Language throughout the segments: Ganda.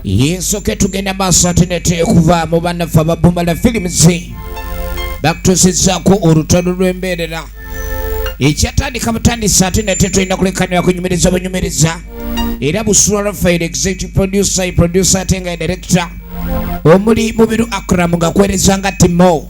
yesu ketugenda maaso ate neteekuva mu banaffe ababumala films bakutusizaku olutalo lw'embeerera ekyatandika butandisa ate nate tulina kulekanira kunyumiriza bunyumiriza era busula rafael executive producer producer ate nga director omuli mubiru akram nga kuwereza nga timo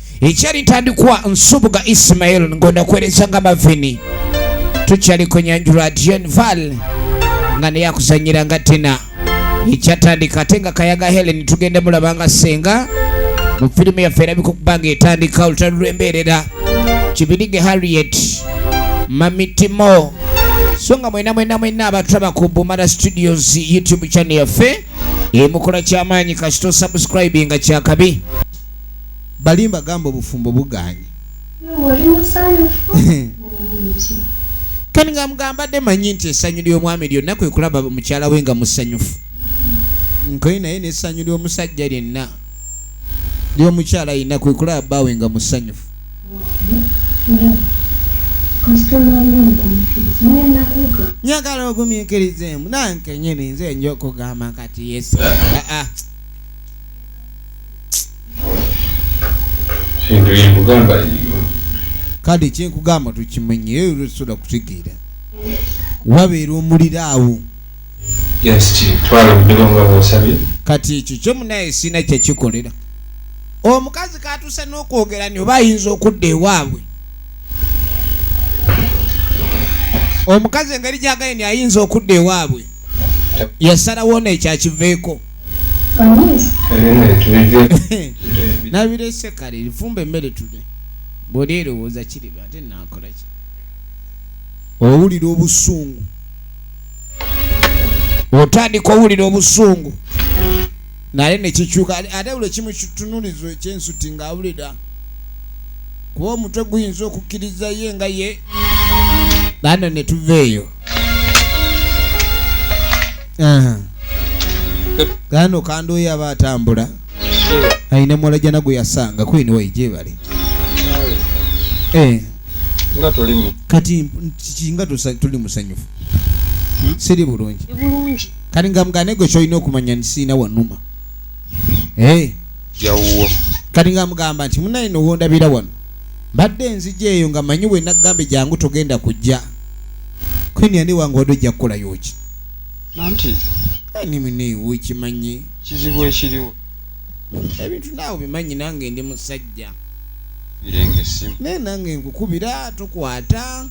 Ikyali ntandikwa Nsubuga Ismail ng'onda kuweereza nga Mavini. Tukyali ku Nyanju Radio Val nga naye akuzannyira nga Tina. Ikyatandika ate nga Kayaga Helen tugenda mulaba nga ssenga mu firimu yaffe erabika okuba ng'etandika olutalo lw'embeerera. Kibirige Harriet Mami Timo so nga mwena mwena mwena abatulaba ku Bumara Studios YouTube channel yaffe emukola ky'amaanyi kasita osubscribinga kyakabi balimba gamba obufumbo buganye kani nga mugambadde manyi nti essanyu ly'omwami lyonna kwe kulaba mukyala we nga musanyufu nkoye naye n'essanyu ly'omusajja lyenna ly'omukyala yenna kwe kulaba bbaawe nga musanyufu njagala ogumikirizeemu nankenyini nze nja okugamba kati yesu aa ah, ah. kale kyenkugamba tukimenye soda kutegeera wabeera omuliro awo kati ekyo kyo munaye sina kyekikolera omukazi katuuse n'okwogera ni oba ayinza okudda ewaabwe omukazi engeri gyagaye ni ayinza okudda ewaabwe yasalawo neekyakiveeko nabirese kale lifumba emmere tude bwoli erowooza kiriba ate nakola ki owulira obusungu otandika owulira obusungu naye nekikyuka ate buli kimu kitunulizo ekyensuti ngaawulira kuba omutwe guyinza okukkiriza ye nga ye nano netuva eyo Ah. gano kandoyo aba atambula alina muwala jana gwe yasanga kwini wayi gyebali Eh, nga tolimu kati mp- kiki nga tusa- tuli musanyufu siri bulungi Ndi bulungi kati nga mugane gwe kyolina okumanya nti sirina wanuma Eh, jawuwo kati nga mugamba nti munaye nowondabira wano mbadde enzija eyo nga manyi we nagambye jangu togenda kujja kwini ani wange wadde ojja kukola yoki nanti ani muneewo kimanyi kizibu ekiriwo ebintu naawe bimanyi nange ndi musajja naye nange nkukubira tukwata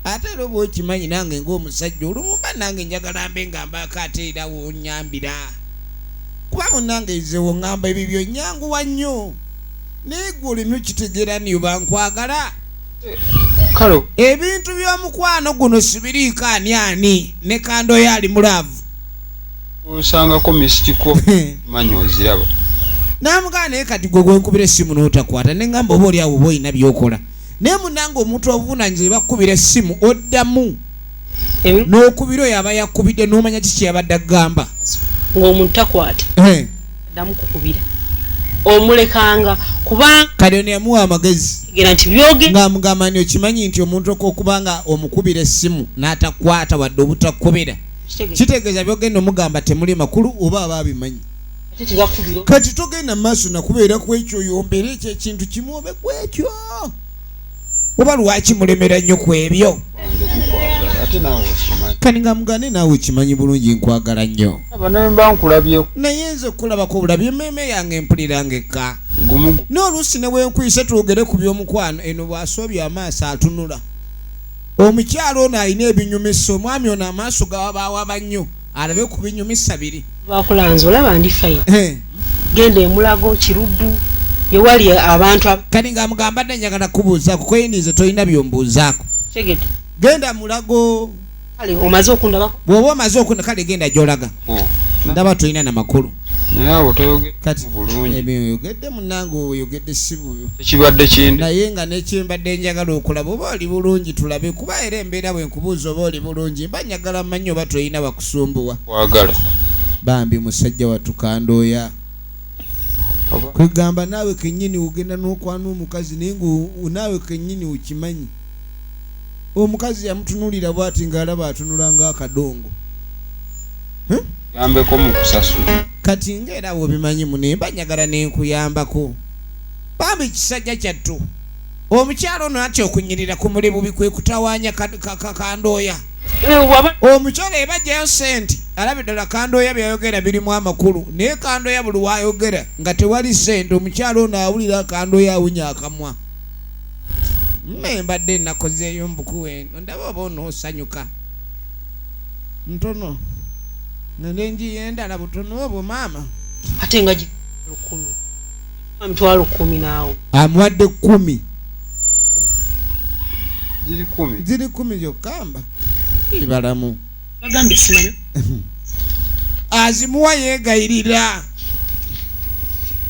ate era oba okimanyi nange ngaomusajja olumumba nange njagala mbe nga mbaako ate era wonyambira kuba munange nze wongamba ebyo byonyanguwa nnyo naye gwe olina okitegera niba nkwagala kalo ebintu by'omukwano guno sibiriiko ani ani ne kandoyo ali mulaavu osangako misikiko manyi oziraba namugaa naye kati gwe gwenkubira essimu n'otakwata ne ngamba oba oli awo oba olina byokola naye munange omuntu obuvunanyizibwa bakukubira essimu oddamu eh? n'okubira oyo aba yakubidde n'omanya ki kyeyabadde agamba ng'omuntu takwata eh. damu kukubira omulekanga kuba kale ono yamuwa amagezi ng'amugamba ni okimanyi nti omuntu okuba nga omukubira essimu n'atakwata wadde obutakubira kitegeeza byogenda omugamba temuli makulu oba aba abimanyi kati togenda maaso nakubeera ku ekyo yombere ekyo ekintu kimu obe ku ekyo oba lwaki mulemera nnyo ku ebyo kani nga mugane naawe kimanyi bulungi nkwagala nnyo naye nze okulabako obulabi emmeeme yange mpulira ngekka n'oluusi ne wenkuyise twogere ku by'omukwano eno bw'asoobya amaaso atunula omukyalo ono alina ebinyumisa omwami ono amaaso gawabawaba nnyo alabe ku binyumisa biri bakulanza olaba ndi fayini eh. genda emulago kiruddu ewali abantu kati nga mugamba dde njagala kubuuzaako kweyinize tolina byombuuzaako tegete genda mulago kale omaze okundabako bw'oba omaze okunda kale genda gy'olaga oh. ndaba tolina na makulu naye awo toyogedde bulungi ebyo oyogedde munange oyogedde sibuyo ekibadde kindi naye nga nekyembadde njagala okulaba oba oli bulungi tulabe kuba era embeera bwenkubuuza oba oli bulungi mba njagala manyi oba tolina bakusumbuwa kwagala bambi musajja watukandooya kwegamba naawe kenyini ogenda nokwana omukazi naye nga naawe kenyini okimanyi omukazi yamutunulira bwati ngaalaba atunula nga akadongo yambeko mu kusasula kati nga era bwobimanyi mune mba njagala nenkuyambako bambi ekisajja kyattu omukyalo ono atya okunyirira ku muli bubi kwe kutawanya kandooya eh, omukyalo eba jayo sente alabe ddala kandooya byayogera birimu amakulu naye kandooya buli wayogera nga tewali sente omukyalo ono awulira kandooya awunya akamwa mmembadde nakozeeyo mbukuwe ndaba oba onoosanyuka ntono ngende njiyo endala butono obwo maama ate nga lukumi amitwalo kumi naawo amuwadde kumi ziri kumi ziri kumi yokamba ibalamu bagambye simanyi azimuwa yegayirira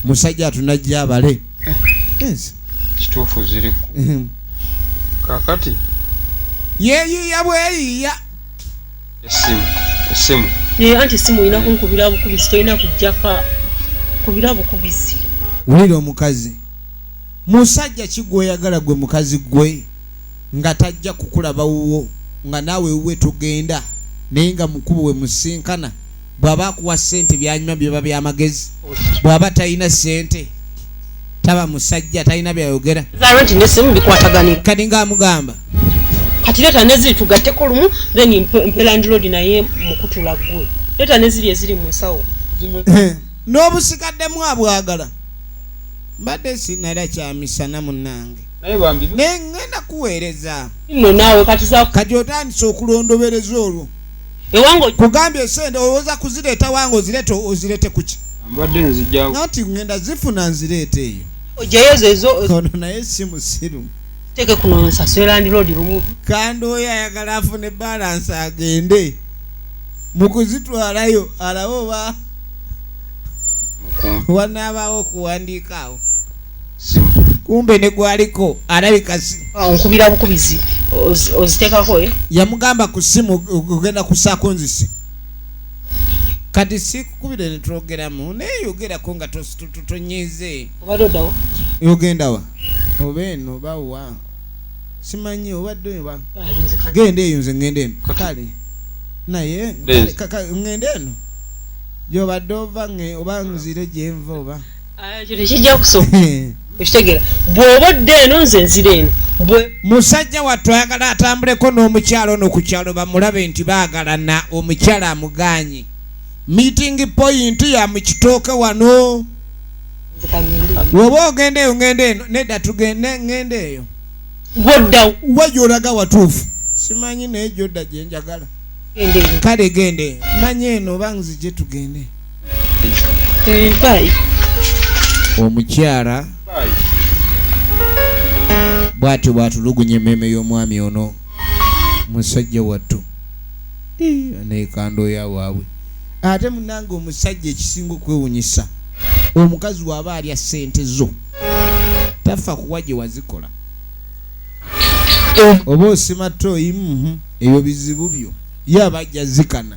musajja atunajja abale yes kituufu ziri mhm. kakati yeyiya bweyiya esimu esimu naye anti esimu olina kunkubira bukubizi tolina kujjaka kubira bukubizi wulira omukazi musajja kigweyagala gwe mukazi gwe nga tajja kukulaba wuwo nga naawe wuwe togenda naye nga mukubo we musinkana bw'aba akuwa ssente byanyuma biba by'amagezi bw'aba talina ssente taba musajja talina byayogera kati ng'amugamba kati leeta neziri tugatteko lumu then mpe landlord naye mukutula ggwe leeta neziri eziri mu nsawo eh, n'obusikaddemu abwagala mbadde sinala kyamisana munange naye ngenda kuweereza kati otandise okulondobereza olwo ewange kugambye esente owoza kuzireeta wange ozirete ozirete kuki mbadde nzija nati ngenda zifuna nzireeta eyo ojayozo ezo ono naye si musiru teke kuno nsasera ndi lodi lumu kandi oyo ayagala afune balance agende mukuzitwalayo alawo ba wanaabaawo okuwandiikaawo kumbe negwaliko alabika ah, nkubira bukubizi ozitekako eh? yamugamba ku simu ogenda kusako nzisi kati sikukubire netwogeramu naye yogerako nga tonyize yogendawa oba eno bawa simanyi obadde oba genda eyo nze ngenda eno kale naye ngenda eno gyobadde ova oba nzire gyenva oba musajja wattu ayagala atambuleko n'omukyalo ono ku kyalo bamulabe nti baagalana omukyala amugaanyi meeting point ya mukitooke wano woba ogenda eyo ngenda eno nedda tugende ngenda eyo gwodda wajja olaga watuufu simanyi naye gyodda gyenjagala kale gende manyi eno oba nzije tugende omukyala bwatyo bwatulugunya emmeeme y'omwami ono musajja wattu nekandooya waabwe ate munange omusajja ekisinga okwewunyisa omukazi waaba alya ssente zo tafa kuwa gye wazikola oba osimatta oyimu ebyo bizibu byo ye aba ajja zikana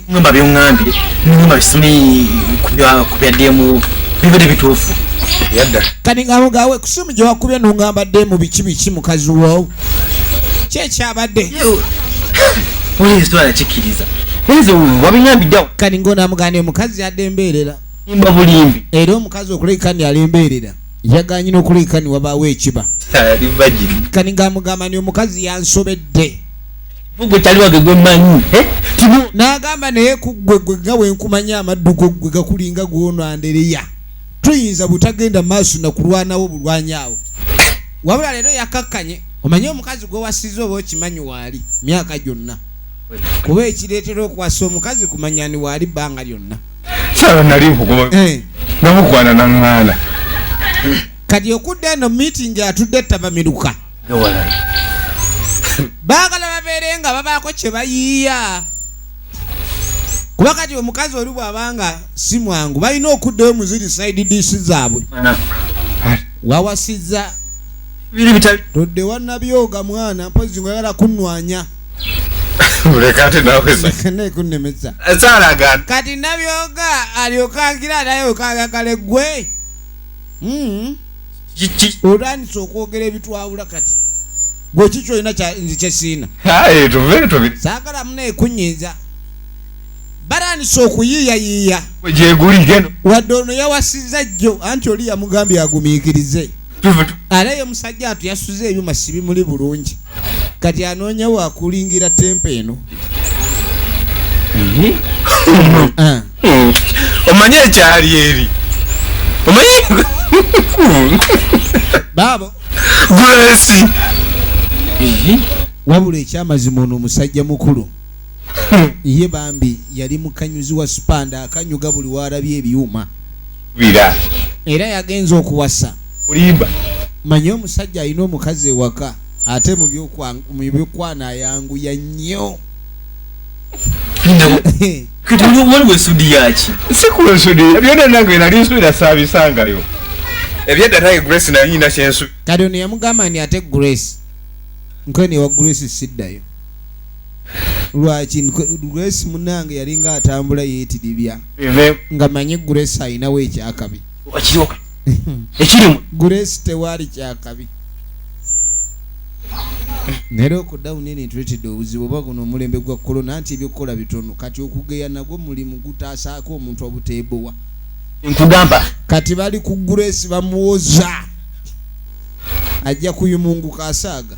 ngamba byongambye ngamba bisome kubya demu bibadde bituufu yadda kati ngabo gawe kusimu gye wakubye nongamba demu biki biki mukazi wo kyekyabadde oli ensitwala kikkiriza nze wabingambiddewo kati ngaonamuganda omukazi yadde embeerera imba bulimbi era omukazi okulabika ni alembeerera yaganye n'okulabika ni wabaawo ekiba kani ngaamugamba ni omukazi yansobedde gwe taliwage gwe manyi eh? n'agamba naye ku ggwe gwe nga wenkumanya amaddu go ggwe gakulinga gwonandereya tuyinza butagenda maaso nakulwanawo bulwanyaawo wabula leero yakakkanye omanye omukazi gwewasiza oba okimanyi waali myaka gyonna kuba ekireetera okuwasa omukazi kumanyani waali bbanga lyonna eh. kati okudda eno miitingi atudde ttabamiruka baagala babeere nga babaako kye bayiiya kuba kati omukazi oli bw'aba nga si mwangu balina okuddayo mu ziri side dish zaabwe wawasizza todde wannabyoga mwana mpozi nga yala kunnwanya kunnemesa kati nabyoga alyoka ngira naye okayagale ggwe hmm. otandise okwogera ebitwawula kati gweki kyolina nze kyesiina saagala muna ekunyiiza batandise okuyiiyayiiya wadde ono yawasiza jjo anti oli yamugambye agumiikirize ate ye musajja atu yasuza ebyuma sibimuli bulungi kati anoonya wakulingira tempa eno mhm. ah. hmm. omanyi ekyali eri omanyi baabo gulesi mhm. wabula ekyamazima ono omusajja mukulu hmm. ye bambi yali mukanyuzi wa supanda akanyuga buli waalabye ebyuma kubira era yagenze okuwasa olimba manya omusajja alina omukazi ewaka ate mu byokwana ayanguya nnyo waliwo ensudi yaki sikula ensudi byona nange nali nsuira sabisangayo ebyedda naye grace nayina kyensu kati ono yamugamba ni ate grace nkwenewa grace siddayo lwaki grace munange yalinga atambula yetidibya nga manyi grace ayinawo ekyakabi grace tewali kyakabi naye lockdown eno etuletedde obuzibu oba guno omulembe gwa kolona nti ebyokukola bitono kati okugeya nagwo mulimu gutaasaako omuntu obuteebowa nkugamba kati bali ku grace bamuwoza ajja kuyumunguka asaaga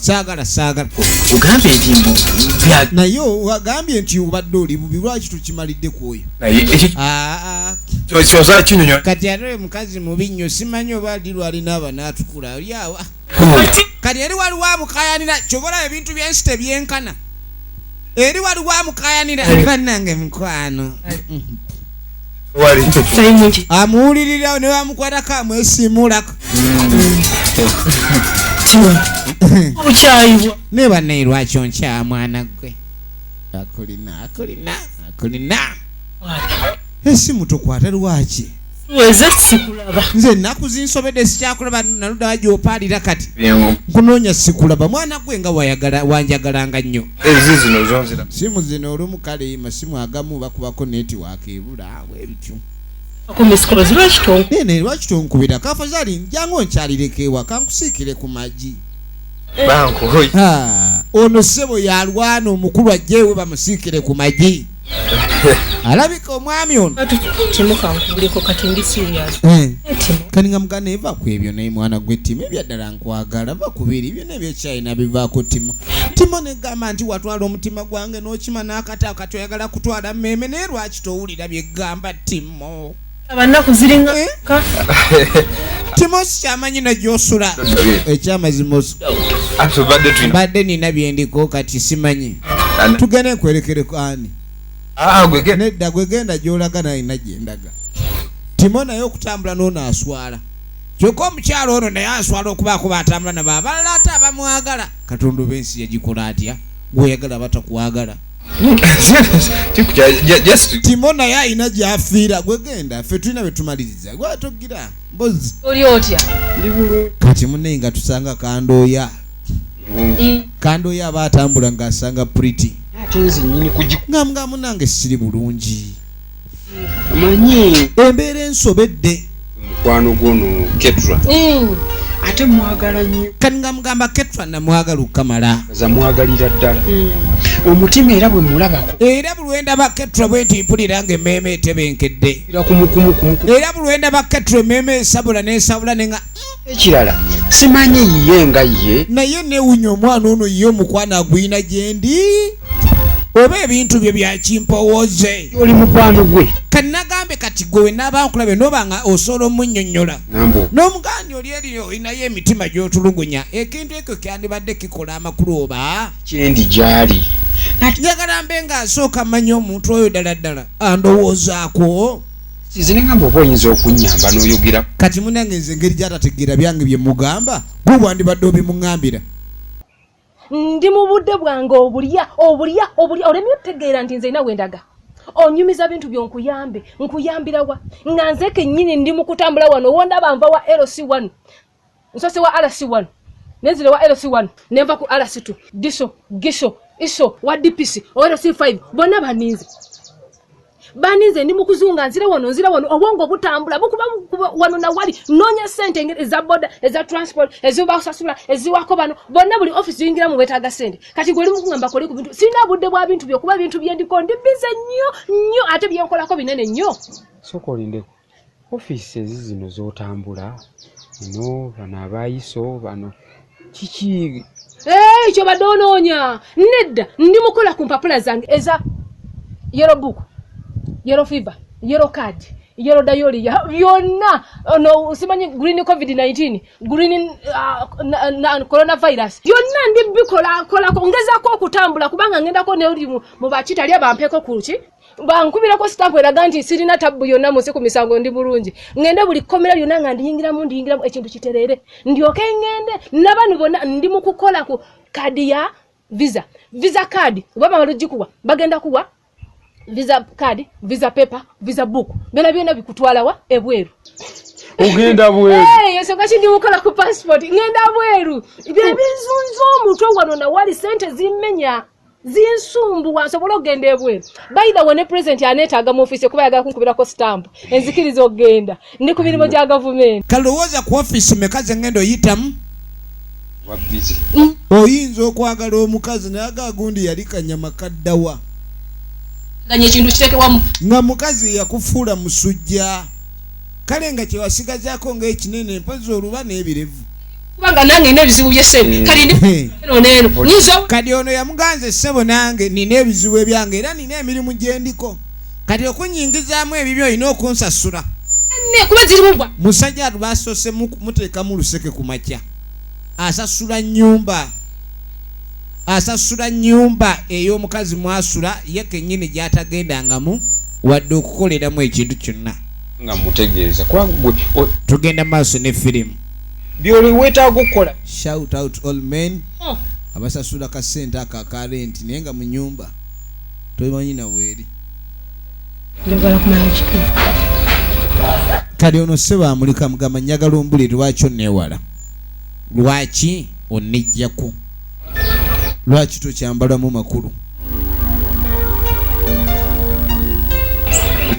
saagala saagala ogambye nti mbu naye ogambye nti obadde oli bubi lwaki tukimalidde ku oyo kati ate oyo mukazi mubi nnyo simanyi oba ali lwalina abana atukula olyawa kati eri waliwo amukayanira kyobola ebintu byensi tebyenkana eri waliwo amukayanira banange mukwano amuwulirira ne bamukwatako amwesimuulako okyayibwa naye banaye lwaki onkyaa mwana gwe akulina akulina akulina esimu tukwate lwaki nze ennaku zinsobedde sikyakulaba naludawa gyopaalira kati nkunoonya sikulaba mwana gwe nga wanjagalanga nnyo simu zino olumu kale masimu agamu bakubako netiwaka kebula bwe bityo nene lwaki tonkubira kafazali njangu nkyalireko ewa kankusiikire ku magi ono ssebo yalwana omukulu ajjeewe bamusiikire ku magi alabika omwami ono eh. kani nga mugana eva ku ebyo naye mwana gwe timo ebyaddala nkwagala va kubiri byona ebyokyayina bivaako timo timo negamba nti watwala omutima gwange nokima n'akataka toyagala kutwala mmeeme naye lwaki towulira byegamba timo abanaku ziringa eh? timosi kyamanyi najosula ekyamazima mbadde nina byendiko kati simanyi tugende nkwerekereko ani ah, nedda gwegenda gyolaga nalina gyendaga timo naye okutambula nonaaswala kyokka omukyalo ono naye aswala okubaako batambula nabo abalala ate abamwagala katonda oba ensi yagikola atya gweoyagala batakwagala timo naye alina gyafiira gwegenda fe tulina betumaliriza gwatogira mbozi oli otya kati munaye nga tusanga kandooya kandooya aba atambula ng'asanga priti nga munange siri bulungi manyi embeera ensobedde mukwano gwono ketra mm. ate mwagala nyo kati nga mugamba ketra namwagala okukamala za mwagalira ddala mm. omutima era bwe mulabako era bulwenda ba ketra bwe nti mpulira nga emmeeme etebenkedde era bulwenda ba ketra emmeeme esabula nesabula nenga ekirala simanyi yiye nga ye naye newunya omwana ono ye omukwano agwina gyendi oba ebintu bye byakimpowooze oli mukwano gwe kanagambe kati gwe wenaaba nkulabe noba nga osobola omunyonyola n'omugandi oli eriyo olinayo emitima gyotulugunya ekintu ekyo kyandibadde kikola amakulu oba kyendi gyali njagala mbe nga asooka manya omuntu oyo ddala ddala andowoozaako nze nengamba oba oyinza okunyamba noyogera kati munange nze engeri gyatategeera byange bye mugamba gwe bwandibadde obimuŋambira ndi mu budde bwange obulya obulya obulya olemye otegeera nti nze ina wendaga onyumiza bintu byo nkuyambe nkuyambirawa nga nze kennyini ndi mu kutambula wano wondaba nva wa lc one nsose wa rc one nenzile wa rc one nenva ku rc two diso giso iso wa dpc orc five bona baninze baninze ndi mukuzunga nzire wano nzire wano obwongo butambula bukuba wano na wali nonya sente eza boda eza transport eziba usasula eziwako bano bona buli office yingira mu wetaga sente kati gwe limu kungamba kole ku bintu sina budde bwa bintu byo kuba bintu byendiko ndi bize nyo nyo ate byenkolako binene nyo sokolindeko Offices zino zotambula eno bano abayiso bano kiki hey, kyobadde onoonya nedda ndi mukola ku mpapula zange eza yero book yero fever yero card yero dayoli byonna ono simanyi green covid 19 green uh, coronavirus byonna ndi bikolakolako ngezako okutambula kubanga ngendako neri mu bakitali abampeko kuki bankubirako sitampu eraga nti sirina tabbu yonna munsi ku misango ndi bulungi ŋŋende buli kkomera lyonna nga ndiyingiramu ndiyingiramu ekintu kitereere ndyoke ŋŋende nabanu bonna ndi mu kukola ku kaadi ya visa visa kaadi oba bamala ogikuwa bagenda kuwa visa kaadi visa pepa visa buuku byona byona bikutwalawa ebweru ogenda bweruensonga eh, kindiwukola ku passport ŋŋenda bweru bye bizunza omutwe wano nawali sente zimmenya zinsumbuwa nsobola okugenda ebweru baitha we ne pulezidenti aneetaaga mu ofiisi kuba yagala kunkubirako sitampu enzikiriza okugenda ndi ku mirimu gya gavumenti kalowooza ku ofiisi meka ze ngenda oyitamu oyinza okwagala omukazi naye agagundi yali kanyama kaddawa nga mukazi yakufuula musujja kale nga kyewasigazaako ngaekinene mpozi oluba n'ebirevu kubanga nange nina ebizibu byesente mm. kali neno kadi ono yamuganze sebo nange nina ebizibu ebyange era nina emirimu gyendiko kati okunyingizaamu ebibyo olina okunsasula kuba zirimu bwa musajja atu basoose muteekamu luseke ku makya asasula nyumba asasula nyumba ey'omukazi mwasula ye kennyini gy'atagendangamu wadde okukoleramu ekintu kyonna nga mutegeeza tugenda maaso ne firimu byoli wetaaga okukola shout out all men oh. abasasula ka sente ako aka renti naye nga mu nyumba tomanyi naweeri kati ono sebo amulika mugamba njagala ombuli lwaki onewala lwaki onejjako lwaki tokyambalamu makulu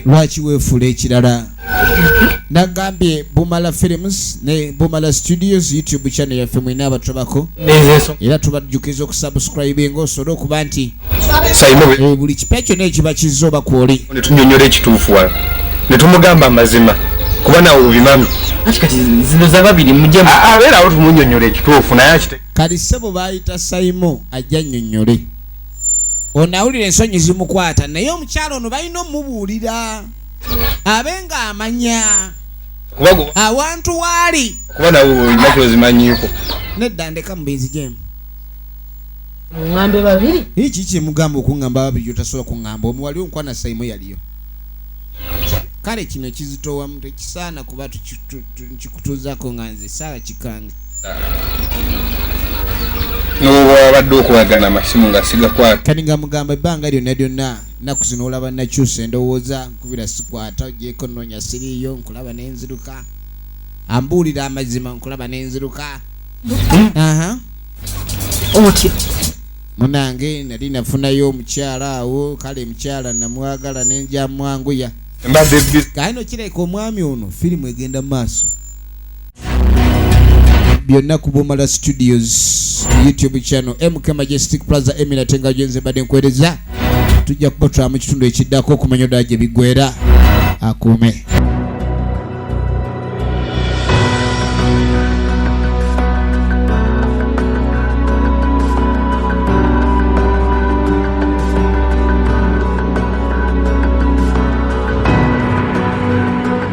lwaki weefuula ekirala nagambye bumala films ne bumala studios youtube channel yaffe mwena abatulabako era tubajjukiza okusubscribe nga osobole okuba nti eh, buli kipya kyona ekiba kizza oba kwoli netunyonyola ekituufu wala netumugamba amazima kuba nawe obimami kati zino zababiri mujemu abeerawo tumunyonyola ekituufu naye kali sebo bayita saimo ajja nyonyole onawulira ensonyi zimukwata naye omukyalo ono balina omubuulira abe nga amanya awantu waali kuba nawe olina kwezimanyiiko nedda ndeka mubizi jemu ŋambe babiri iki kyemugamba okuŋamba babiri otasobola kuŋamba omu wali onkwana saimu yaliyo kale kino kizitowamu tekisaana kuba nkikutuzako nga nze saala kikange nobwabadde okwagana amasimu nga sigakwata kati nga mugamba ebbanga lyonna lyonna nnaku zino olaba nakyusa endowooza nkubira sikwata ogyeko nnoonya siriiyo nkulaba nenziruka ambuulira amazima nkulaba nenziruka otyo munange nali nafunayo omukyala awo kale mukyala namwagala nenjamwanguya kale nokireka omwami ono firimu egenda mu maaso byonna ku bumala studios youtube channel mk majestic plaza emina tenga gyenze mbadde nkwereza tujja kubatwala mu kitundu ekiddako okumanya ddala gye biggwera akuume